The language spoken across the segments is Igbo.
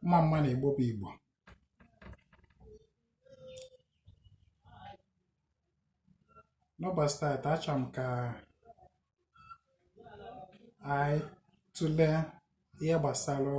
mma mma nụ igbo bụ igbo n'ụbọchị taata achọrọ m ka anyị tụlee ihe gbasara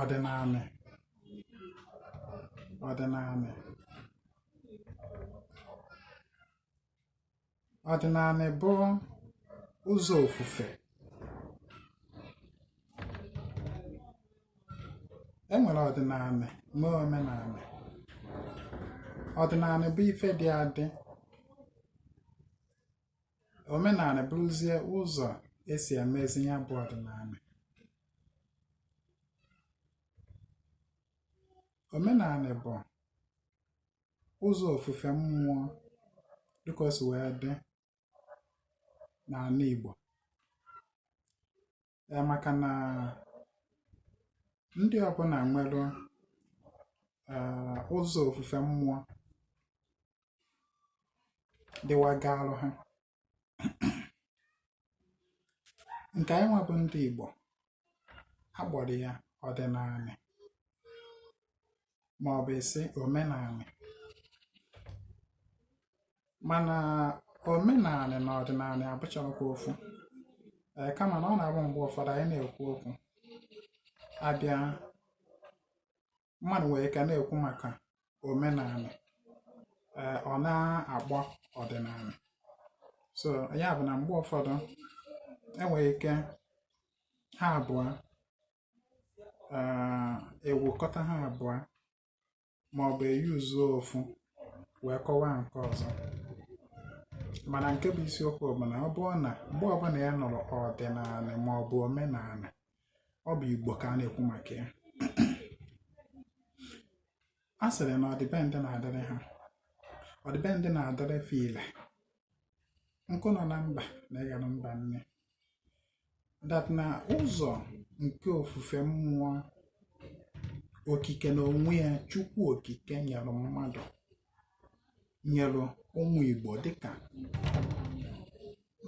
ọdịnanị ọdịnanị bụ ụzọ ofufe e nwere ọdịnanị nwee omenanị ọdịnanị bụ ife dị adị omenanị bụrụzie ụzọ esi emezi ya bụ ọdịnanị omenanị bụ ụzọ ofufe mmụọ dịka o si wee dị n'ana Igbo ya maka na ndị ọbụla nwere ụzọ ofufe mmụọ dịwagaalụ ha nke anyị nwa bụ ndị Igbo a kpọrọ ya ọdịnanị ma ọ bụ ị sị omenanị mana omenanị na ọdịnanị abụchaghịkwa ofu ee kama na ọ na-abụ mgbe ụfọdụ anyị na-ekwu okwu abịa mmadụ nwere ike na-ekwu maka omenanị ee ọ na-akpọ ọdịnanị so ya bụ na mgbe ụfọdụ enwere ike ha abụọ ee ewekọta ha abụọ ma ọ bụ eyuzuo ofu wee kọwaa nke ọzọ mana nke bụ isiokwu bụ na ọ bụrụ na mgbe ọbụla ị nụrụ ọdịnanị ma ọ bụ omenanị ọ bụ igbo ka a na-ekwu maka ya a sịrị na ọdịbendị na-adịrị ha ọdịbendị na-adịrị file nkụ nọ na mba na-eghere mba nni that na ụzọ nke ofufe mmụọ okike na onwe ya chukwu okike nyere mmadụ nyere ụmụ Igbo dịka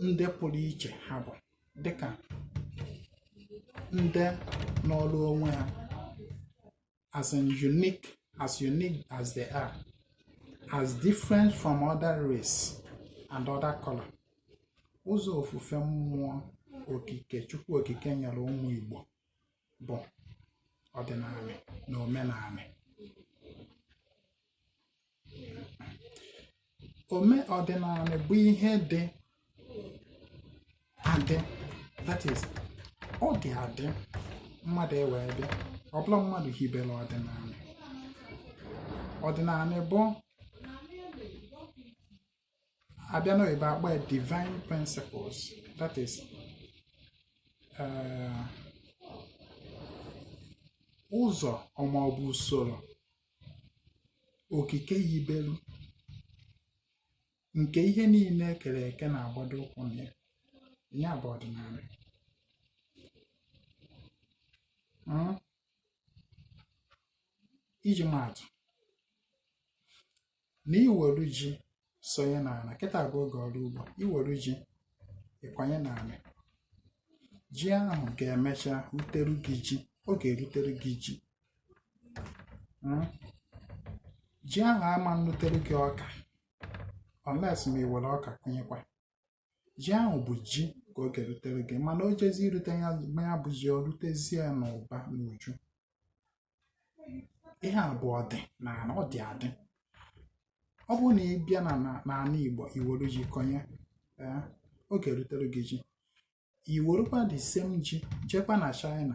ndị pụrụ iche ha bụ dịka ndị nọọrọ onwe ha as unique as they are as different from other race and other color ụzọ ofufe mmụọ okike chukwu okike nyere ụmụ Igbo bụ ọdịnanị na omenanị ome ọdịnanị bụ ihe dị adị that is ọ dị adị mmadụ ewee bịa ọ bụrọ mmadụ hibere ọdịnanị ọdịnanị bụ abịa n'oyibo akpọ ya divine principles that is eh, ụzọ ma ọ bụ usoro okike yibelu nke ihe niile ekere eke na-agbado ụkwụ na ya ya bụ ọdịnanị hmm? iji maatụ na iwere ji sonye n'ana kịta bụ oge ọrụ ugbo iwere ji ịkwanye n'anị ji ahụ ga-emecha rutere gị ji ọ ga-erutere gị ji hmm? ji ahụ ama nrutere gị ọka unless ma ị were ọka kụnyekwa ji ahụ bụ ji ka ọ ga-erutere gị mana o jezi irute ya ma ya bụ ji o rutezie n'ụba n'uju ihe a bụ ọdị na ana ọ dị adị ọ bụrụ na ị bịa na na- n'ana igbo iwere ji kọnye ee, ọ ga-erutere gị ji iwerukwa the same ji jekwa na china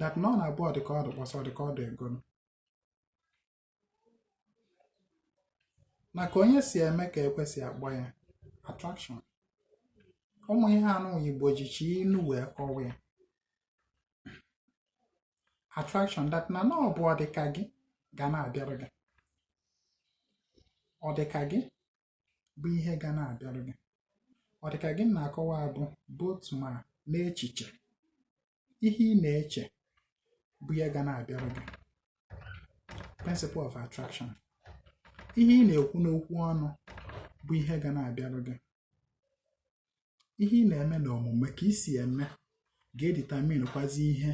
that na ọ na-abụ ọdịka ọ dị kpọsa ọdịka ọ dị egolu na ka onye si eme ka ekwe si akpọ ya attraction ụmụ ihe anụ igbo jicha inu wee kọwa ya attraction that na na ọ bụ ọdịka gị ga na-abịara gị ọdịka gị bụ ihe ga na-abịarụ gị ọ dị ka gị m na-akọwa a bụ both ma n'echiche ihe ị na-eche bụ ihe ga na-abịarụ gị principle of attraction ihe ị na-ekwu n'okwu ọnụ bụ ihe ga na-abịarụ gị ihe ị na-eme n'omume ka i si eme ga-edeterminekwazi ihe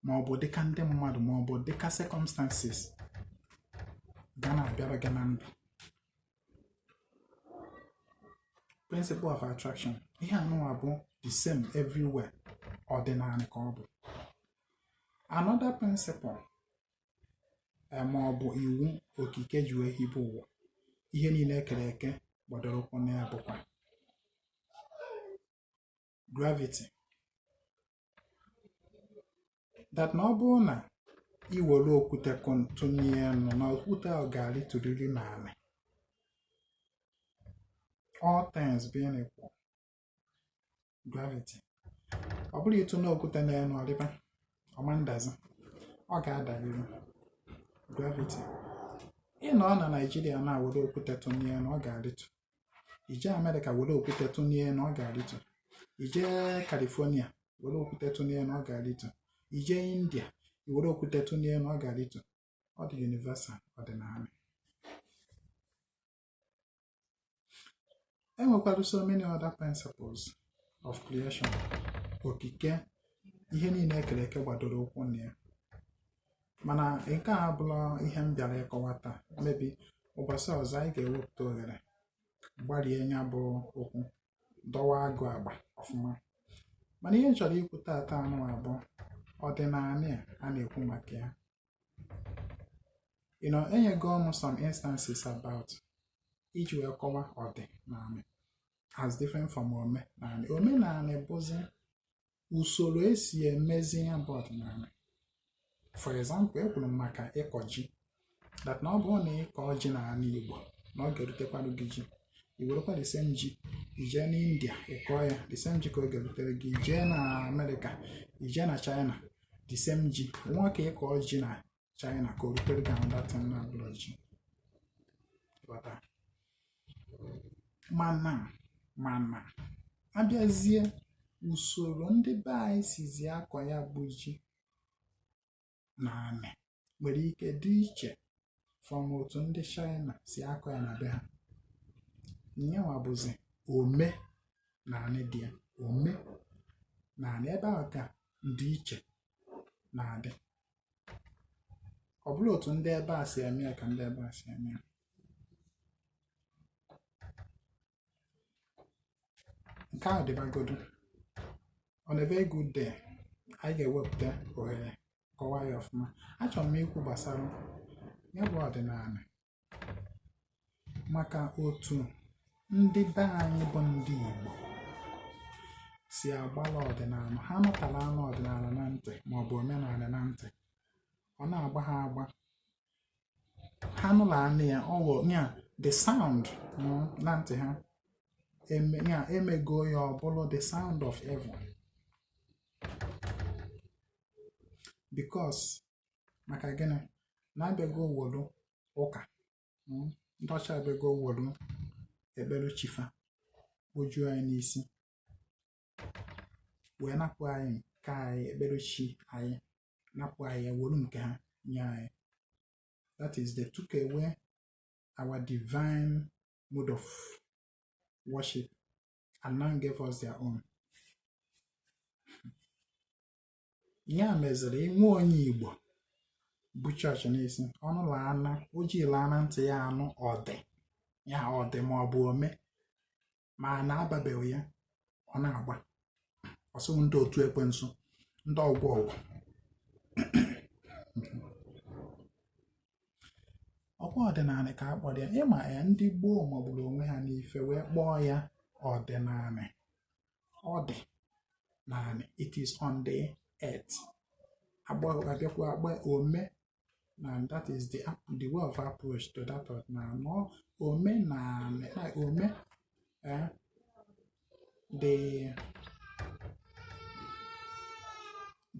ma ọ bụ dịka ndị mmadụ ma ọ bụ dịka circumstances ga na-abịara gị na ndụ principle of attraction ihe anụwa bụ the same everywhere ọdịnanị ka ọ bụ another principle ma ọ bụ iwu okike ji wee hibe ụwa ihe niile ekere eke gbadoro ụkwụ na ya bụkwa gravity that na ọ bụrụ na i were okwute tụnie enu na okwute ahụ ga-arịtụrịrị n'anị all things being equal gravity ọ bụrụ ị tụnie okwute na ya na ọrịba ọma ndazi ọ ga-adarịrị gravity ị nọ na naijiria na were okwute tụnie na ọ ga-arịtụ i jee amerịka were okwute tụnie na ọ ga-arịtụ i jee california were okwute tụnie na ọ ga-arịtụ i jee india i were okwute tụnie na ọ ga-arịtụ ọ dị universal ọdịnanị e nwekwara so many other principles of creation okike ihe niile e kere eke gbadoro ụkwụ na ya mana nke a abụrọ ihe m bịara ịkọwa taa maybe ụbọchị ọzọ anyị ga-ewepụta ohere gbarie nya bụ okwu dọwa agụ agba ọfụma mana ihe m chọrọ ikwu taata nụwa bụ ọdịnanị a na-ekwu maka ya you know enyego m some instances about iji wee kọwa ọdịnanị as different from omenanị omenanị bụzi usoro e si emezi ya bụ ọdịnanị for example ekwuru m maka ịkọ ji that na ọ bụrụ na ị kọọ ji n'anị Igbo na ọ ga-erutekwarụ gị ji i werekwa the same ji jee na india kọọ ya the same ji ka ọ ga-erutere gị i jee na amerịka i jee na china the same ji nwa ka ịkọ ji na China ka o rutere gị another thing na-abụrọ ji mana a bịazie usoro ndị be anyị sizi akọ ya bụ ji n'anị nwere ike dị iche from otu ndị China si akọ ya na be ha nyanwa bụzi omenanị dị ya omenanị ebe ahụ ka ndịiche na-adị ọ bụrọ otu ndị ebe a si eme ya ka ndị ebe a si eme ya nke ahụ dịbagodu on a very good day anyị ga-ewepụta ohere kọwaa ya ọfụma achọrọ m ikwu gbasara ya bụ ọdịnanị maka otu ndị be anyị bụ ndị Igbo si agbala ọdịnanị ha nụtara anụ ọdịnanị na ntị maọbụ omenanị na ntị ọ na-agba ha agba ha nụla anụ ya ọghọ ya the sound mm, na ntị ha ya e mego ya ọ bụlụ the sound of evil because maka gịnị na a bịago wolu ụka mm, ndị ọcha a bịago wolu ekpere chi fa kujuo anyị n'isi wee napụ anyị nke anyị ekpere chi anyị napụ anyị ya were nke ha nye anyị that is they took away our divine mode of worship and now gave us their own ya meziri inwe onye igbo bu chọọchị n'isi ọ nụlaana o jilaana ntị ya anụ ọdị ya ọdị ma ọ bụ ome ma na ababeghị ya ọ na-agba ọsọ ndị otu ekwensu ndị ọgwọ ọgwụ ọkwa ọdịnanị ka a kpọrọ ya ịma ya ndị gboo magburu onwe ha n'ife wee kpọọ ya ọdịnanị ọ dị n'anị it is on the earth a bịakwa agba ome and that is the the way of approach to that ọdịnanị na omenanị like ome eh, the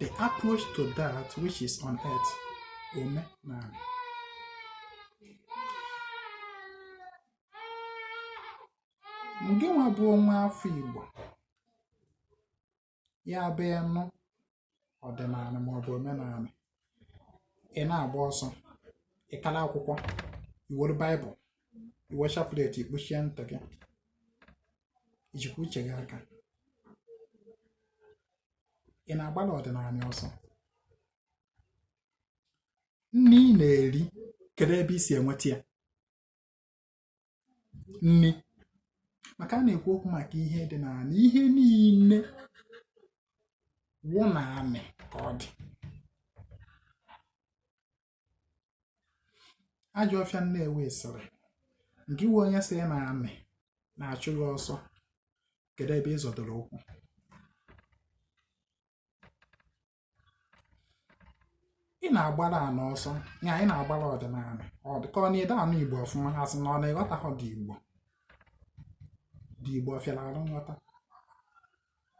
the approach to that which is on earth omenanị gịnwa bụ nwa afọ Igbo ya bụ ị nụ ọdịnanị maọbụ omenanị ị na-agba ọsọ ị kala akwụkwọ i were baịbụl i we chaplet i kpuchie ntị gị i jikwa uche gị aka ị na-agbalị ọdịnanị ọsọ nni ị na-eri kedu ebe i si enweta ya nni maka a na-ekwu okwu maka ihe dị n'anị ihe niile wụ n'anị ka ọ dị ajọ ọfịa nnewi sịrị nke iwe onye sị na anị na-achụ gị ọsọ kedu ebe ị zọdoro ụkwụ ị na-agbara anị ọsọ ya ị na-agbara ọdịnanị ọ dịka ọ nadị anụ igbo ọfụma a sị na ọ na ị ghọtahọ the igbo the igbo ọ fịara arụ nghọta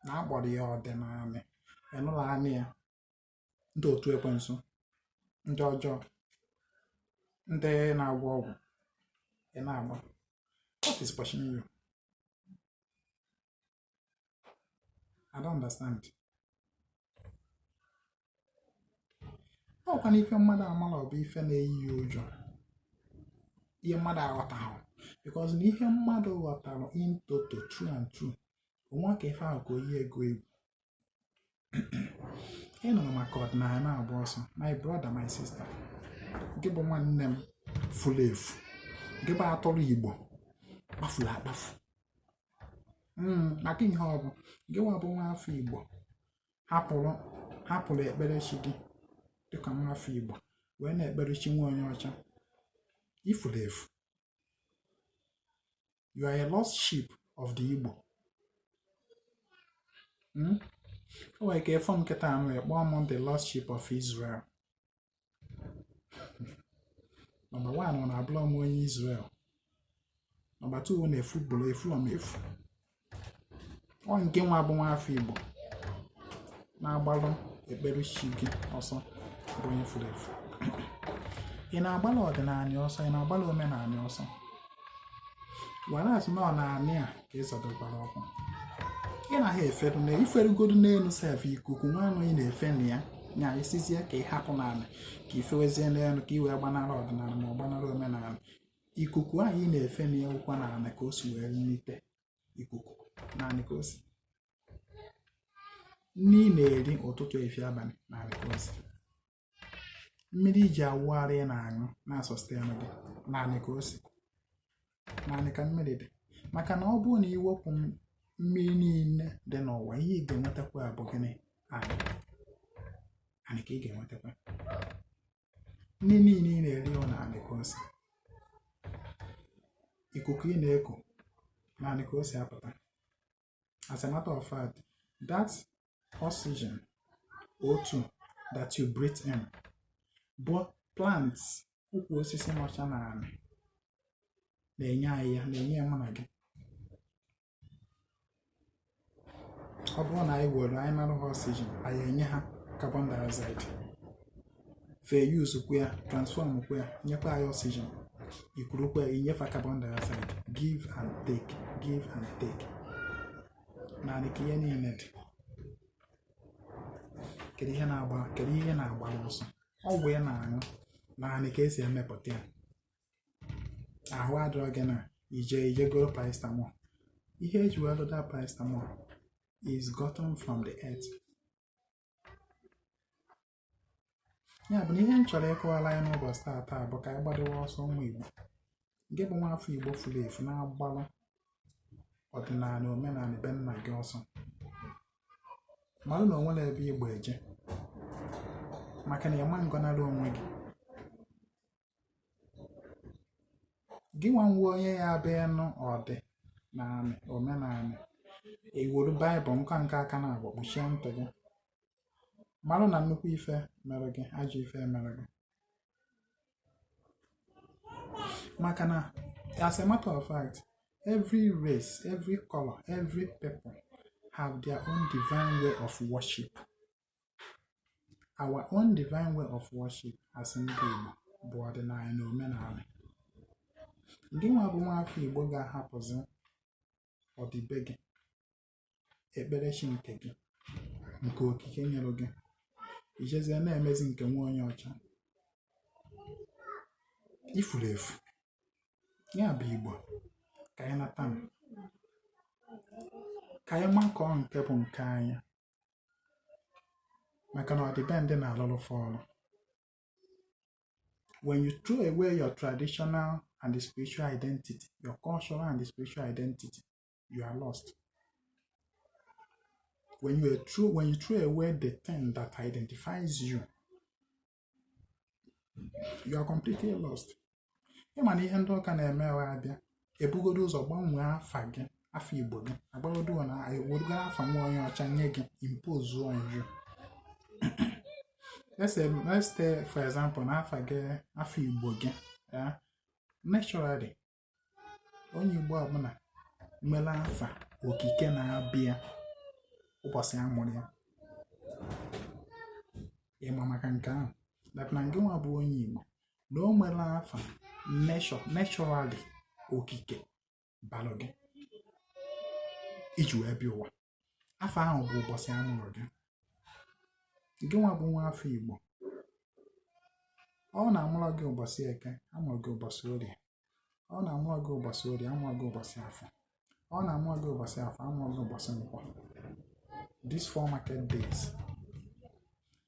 na a kpọrọ ya ọdịnanị ị nụla anị ya ndị otu ekwensu ndị ọjọọ ndị na-agwọ ọgwụ ị na-agba what is pushing you I don't understand. ọkwa na ife mmadụ amarọ bụ ife na-eyi ya ụjọ ihe mmadụ aghọtahụ because na ihe mmadụ ghọtara in toto through and through o nwehọ ka ife ahụ ka o yie gị egwu ị nụ maka ọdịnala na-agba ọsọ my brother my sister gị bụ nwanne m furu efu gị bụ atụrụ igbo kpafuru akpafu hmm, maka ihe ọ bụ gị nwa bụ nwa afọ igbo hapụrụ hapụrụ ekpere chi gị dịka nwa afọ igbo wee na-ekpere chi nwa onye ọcha i furu efu You are a lost sheep of the Igbo. Hmm? O nwere ike ị fụ m kịtaa na ị kpọọ m the lost sheep of Israel. Nọmba one ọ na abụrọ m onye Israel. Nọmba two na efu gbolo efurọ m efu. ọ ngị nwa bụ nwa afọ Igbo na-agbalụ ekpere chi gị ọsọ bụ onye furu efu ị na-agbalụ ọdịnala ọsọ ị na-agbalụ omenala ọsọ whereas na ọ n'anị a ka ị zọdokwara ụkwụ ị naghị efe elu na i ferugodu n'elu sef ikuku nwanụ ị na-efe na ya nya ị sịzie ka ị hapụ n'ala ka i fewezie n'elu ka ị wee gbanara ọdịnala ma ọ gbanara omenala ikuku ahụ ị na-efe na ya ọ kwa n'ala ka o si wee nite ikuku n'anị ka o si nri ị na-eri ụtụtụ efi abalị n'anị ka o si mmiri i ji awụ arụ ị na-aṅụ na-asustain gị n'anị ka o si n'anị ka mmiri dị maka na ọ bụrụ na i wepụ mmiri niile dị n'ụwa ihe ị ga-enwetakwa bụ gịnị anị anị ka ị ga-enwetakwa nri niile ị na-eri ọ n'anị ka o si ikuku ị na-eku n'anị ka o si apụta as a matter of fact that oxygen O2 that you breathe in bụ plants ukwu osisi nọcha n'anị na-enye anyị ya na-enye ya mụ na gị ọ bụrụ na anyị were anyị nara ha oxygen anyị enye ha carbon dioxide fa use kwa ya transform kwa ya nyekwa anyị oxygen i kurukwa ya i nye fa carbon dioxide give and take give and take n'anị ka ihe niile dị kedu ihe na-agba kedu ihe ị na-agbara ọsọ ọgwụ ị na-aṅụ n'anị ka e si emepụta ya ahụ adịrọ gị na i je i je goro paracetamol ihe e ji wee lụda paracetamol is gotten from the earth ya bụ na ihe m chọrọ ịkọwara anyị n'ụbọchị taa taa bụ ka anyị gbadewe ọsọ ụmụ Igbo ngị bụ nwa afọ Igbo furu efu na-agbalụ ọdịnala omenala be nna gị ọsọ mara na o nwerọ ebe ị gba eje maka na ị ma ngọnarị onwe gị gị nwa nwe onye ya abịa nụ ọdịnanị omenanị iwelu baịbụl nka nke aka na-agba kpuchie ntị gị marụ na nnukwu ife mere gị ajọ ife mere gị maka na as a matter of fact every race every color every people have their own divine way of worship our own divine way of worship as ndị Igbo bụ ọdịnanị na omenanị ngị nwa bụ nwaafọ Igbo ga-ahapụzi ọdịbe gị ekperechi nke gị nke okike nyere gị ijezie na-emezi nke nwa onye ọcha ifuru efu ya bụ Igbo ka anyị nata ka anyị makụọ nke bụ nke anyị maka na ọdịbendị na-alụrụ fa ọrụ when you throw away your traditional and the spiritual identity your cultural and the spiritual identity you are lost when you are true when you throw away the thing that identifies you you are completely lost ịma na ihe ndị ụka na-eme wee abịa ebugodo ụzọ gbanwee afa gị afa igbo gị agbagodo na ewerugo afa nwa onye ọcha nye gị impose on you let's say for example na afa gị afa igbo gị naturally onye Igbo ọbụla nwere afa okike na-aba ya ụbọchị a mụrụ ya ịma maka nke ahụ that na ngị nwa bụ onye Igbo na o nwere afa naturally okike balụ gị iji wee bịa ụwa afa ahụ bụ ụbọchị a mụrụ gị gị nwa bụ nwa afọ igbo ọ na amụrọ gị ụbọchị eke amụọ gị ụbọchị orie ọ na amụrọ gị ụbọchị orie amụọ gị ụbọchị afọ ọ na amụrọ gị ụbọchị afọ amụọ gị ụbọchị nkwọ these four market days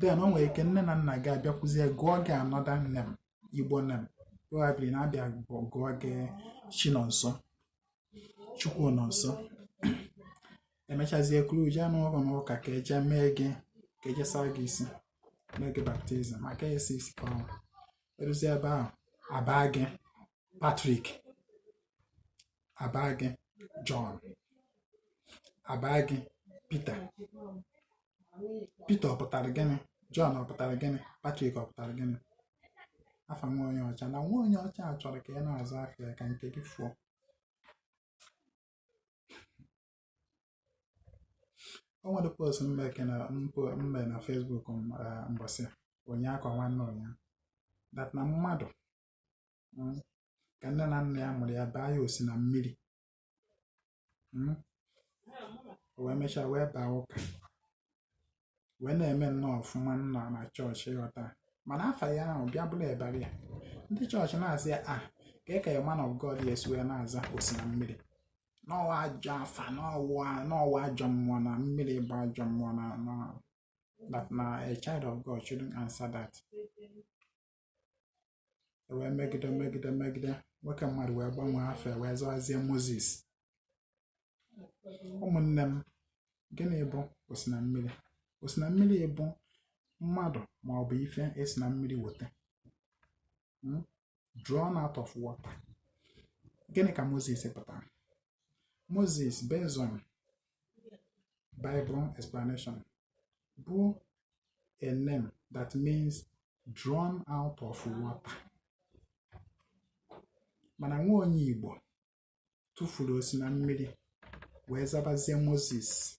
then o nwere ike nne na nna gị abịakwuzie gụọ gị another name igbo name probably na-abịa gụọ gị Chinonso Chukwunonso emechazie kuru jee n'ụlọ n'ụka ka eje mee gị ka eje saa gị isi mee gị baptizim maka esi isi ka ọnwụ eruzie ebe ahụ abaa gị Patrick abaa gị John abaa gị Peter Peter ọ pụtara gịnị John ọ pụtara gịnị Patrick ọ pụtara gịnị afa nwa onye ọcha na nwa onye ọcha a chọrọ ka ị na-aza afa ya ka nke gị fuo o nwere post m me na Facebook mbọsị ụnyaahụ ka nwanne ụnyaahụ that na mmadụ hmm, ka nne na nna ya mụrụ ya baa ya osi na mmiri hmm, o wee mechaa wee baa ụka wee na-eme nnọọ ọfụma nnọọ na chọọchị ị ghọta mana afa ya ahụ bịa bụrụ e bara ya ndị chọọchị na-asị ya ah kee ka ya man of God ya esi wee na-aza osi na mmiri na ọ wụ ajọ afa na ọ wụ ajọ mmụọ na mmiri bụ ajọ mmụọ na that na a child of God shouldn't answer that wee megide megide megide nwoke mmadụ wee gbanwee afa ya wee zawazie moses ụmụnne m gịnị bụ osi na mmiri osi na mmiri bụ mmadụ ma ọ bụ ife e si na mmiri weta hmm? drawn out of water gịnị ka moses pụtara moses based on bible explanation bụ a name that means drawn out of water mana nwa onye Igbo tụfuru osi na mmiri wee zabazie Moses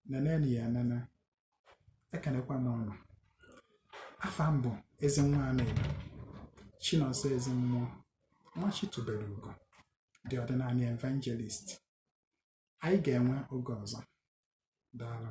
nenenu ya enene ekenekwa m ụnụ afa m bụ ezi nwa Anaedo chinonso ezi mmụọ nwa chi tubere ugo the ọdịnanị evangelist anyị ga-enwe oge ọzọ daalụ